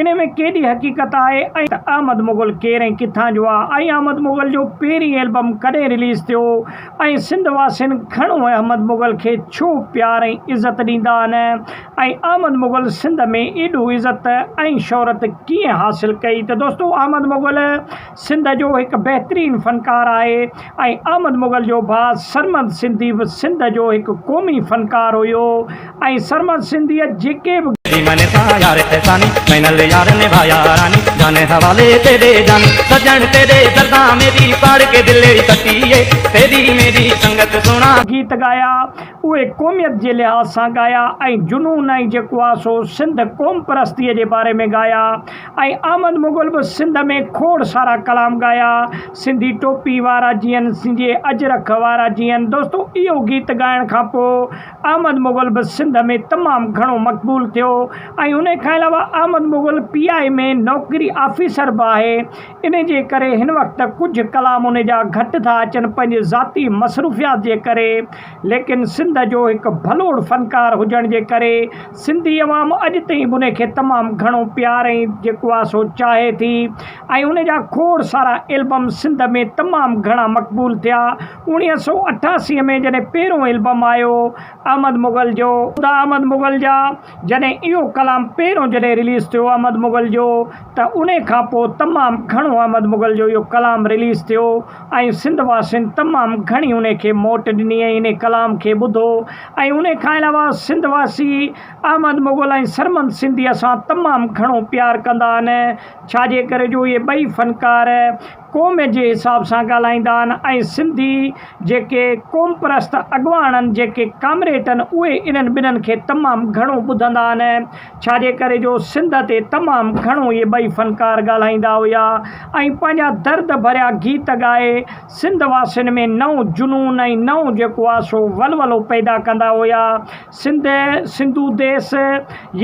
انهيء ۾ ڪيڏي حقيقت آهي ۽ ته احمد مغل ڪير ۽ ڪٿان جو آهي ۽ احمد مغل جو پهرين البم ڪڏهن رليز ٿيو ۽ سنڌ واسين گهڻو احمد مغل کي ڇو پيار ۽ عزت ڏيندا آهن ۽ احمد مغل سنڌ ۾ ايڏو عزت ۽ شهرت ڪيئن حاصل ڪئي ته دوستو احمد مغل سنڌ جو هڪ بهترين فنڪار آهي ۽ احمد مغل جو ڀاء سرمد سنڌي به سنڌ جو هڪ قومي فنڪار هيو ۽ سرمد سنڌيء جيڪي به. ڏي مئني سان يار احساني مئنل يار نڀايا راني جاني حوالي تيڏي جاني سڄڻ تيڏي دردان ميري پاڙ ڪي دل اي ڪتي اي تيري ميري سنگت سهڻا. گيت ڳايا اهي قوميت جي لحاظ سان ڳايا ۽ جنون ۽ جيڪو آ سو سنڌ قوم پرستيء جي باري ۾ ڳايا ۽ احمد مغل به سنڌ ۾ کوڙ سارا ڪلام ڳايا، سنڌي ٽوپي وارا جيئن، سنڌي اجرڪ وارا جيئن. دوستو اهو گيت ڳائڻ کان پوء احمد مغل به سنڌ ۾ تمام گهڻو مقبول ٿيو ۽ انهي کان علاوه Ahmed Mughal P I A ۾ نوڪري آفيسر به آهي انهي جي ڪري هن وقت ڪجهه ڪلام انهي جا گهٽ ٿا اچن پنهنجي ذاتي مصروفيات جي ڪري ليڪن سنڌ جو هڪ ڀلوڙ فنڪار هجڻ جي ڪري سنڌي عوام اڄ تائين به ان کي تمام گهڻو پيار ۽ جيڪو آهي سو چاهي ٿي ۽ ان جا کوڙ سارا البم سنڌ ۾ تمام گهڻا مقبول ٿيا اوڻيهه سؤ اٺاسي ۾ جڏهن پهريون البم آيو احمد مغل جو خدا احمد مغل جا جڏهن اهو ڪلام پهريون جڏهن رليز ٿيو احمد مغل جو ته ان کان پوء تمام گهڻو احمد مغل جو اهو ڪلام رليز ٿيو ۽ سنڌ واسين تمام گهڻي ان کي موٽ ڏني ۽ ان ڪلام کي ٻڌو ۽ ان کان علاوه سنڌ واسي احمد مغل ۽ سرمد سنڌيء سان تمام گهڻو پيار ڪندا آهن، ڇا جي ڪري جو اهي ٻئي فنڪار قوم جي حساب سان ڳالهائيندا آهن ۽ سنڌي جيڪي قومپرست اڳواڻ جيڪي ڪامريٽن اهي انهن ٻنهن کي تمام گهڻو ٻڌندا آهن، ڇا جي ڪري جو سنڌ تي تمام گهڻو اهي ٻئي فنڪار ڳالهائيندا هيا ۽ پنهنجا درد ڀريا گيت ڳائي سنڌ واسين ۾ نئون جنون ۽ نئون جيڪو آ سو ولولو پيدا ڪندا هيا سنڌ سنڌو ديس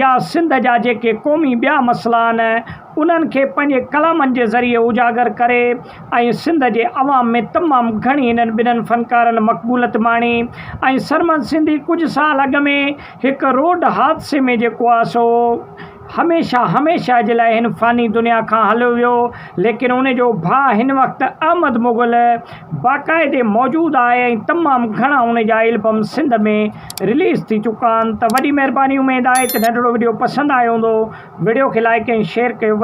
يا سنڌ جا جيڪي قومي ٻيا مسئلا آهن انهن کي پنهنجي ڪلامن جي ذريعي اجاگر ڪري ۽ سنڌ جي عوام ۾ تمام گهڻي هنن ٻنهن فنڪارن مقبولت ماڻي ۽ سرمد سنڌي ڪجهه سال اڳ ۾ هڪ روڊ حادثي ۾ جيڪو آ سو هميشه هميشه جي لاء هن فاني دنيا کان هليو ويو، ليڪن ان جو ڀاء هن وقت احمد مغل باقاعدي موجود آهي ۽ تمام گهڻا ان جا البم سنڌ ۾ رليز ٿي چڪا آهن ته وڏي مهرباني اميد آهي ته ننڍڙو وڊيو پسند آيو هوندو وڊيو کي لائيڪ ۽ شيئر ڪيو.